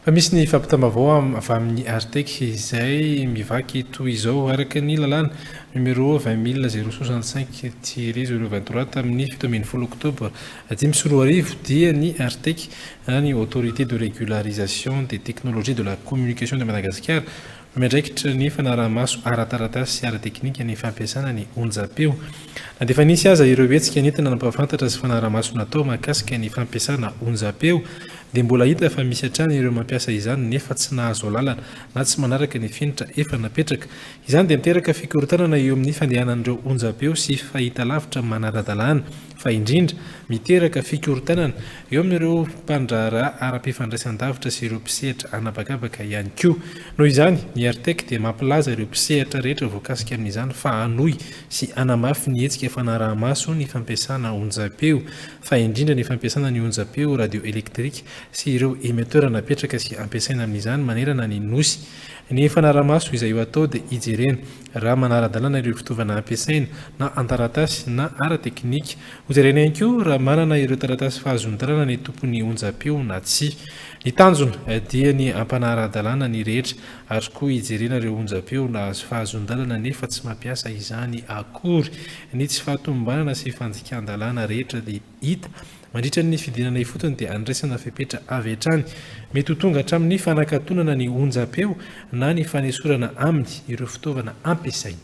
Fa misy ny fampitam-baovao avy amin'ny Artec izay mivaky toy izao, Araka ny lalàna numéro vingt mille zéro soixante cinq tiret zéro vingt trois tamin'ny fito ambin'ny folo oktobra dimy sy roa arivo dia ny Artec, na ny Autorité de régularisation des technologies de la communication de Madagasikara, Miandraikitra ny fanaraha-maso ara-taratasy sy ara-teknika ny fampiasana ny onjampeo. Na dia efa nisy aza ireo hetsika nentina nampahafantatra sy fanaraha-maso natao mahakasika ny fampiasana onjampeo, dia mbola hita fa misy hatrany ireo mampiasa izany nefa tsy nahazo alalana na tsy manaraka ny fenitra efa napetraka. Izany dia miteraka fikorontanana eo amin'ny fandehanan'ireo onjampeo sy fahitalavitra manara-dalàna. fa indrindra, miteraka fikorontanana eo amin'ireo mpandraharaha ara-pifandraisan-davitra sy ireo mpisehatra an'habakabaka ihany koa. Noho izany, ny Artec dia mampilaza ireo mpisehatra rehetra voakasika amin'izany fa hanohy sy hanamafy ny hetsika fanaraha-maso ny fampiasana onjampeo, fa indrindra ny fampiasana ny onjampeo radioelektrika sy ireo emetera napetraka sy ampiasaina amin'izany manerana ny Nosy. Ny fanaraha-maso izay ho atao dia hijerena raha manara-dalana ireo fitaovana ampiasaina, na an-taratasy na ara-teknika. Hojerena ihany koa raha manana ireo taratasy fahazoan-dalana ny tompon'ny onjam-peo na tsia. Ny tanjona dia ny hampanara-dalàna ny rehetra, ary koa hijerena ireo onjam-peo nahazo fahazoan-dalana nefa tsy mampiasa izany akory. Ny tsy fahatomombanana sy fandikan-dalàna rehetra dia. Hita, mandritra ny fidinana ifotony dia andraisana fepetra avy hatrany. Mety ho tonga hatramin'ny fanakatonana ny onjam-peo na ny fanesorana aminy ireo fitaovana ampiasainy.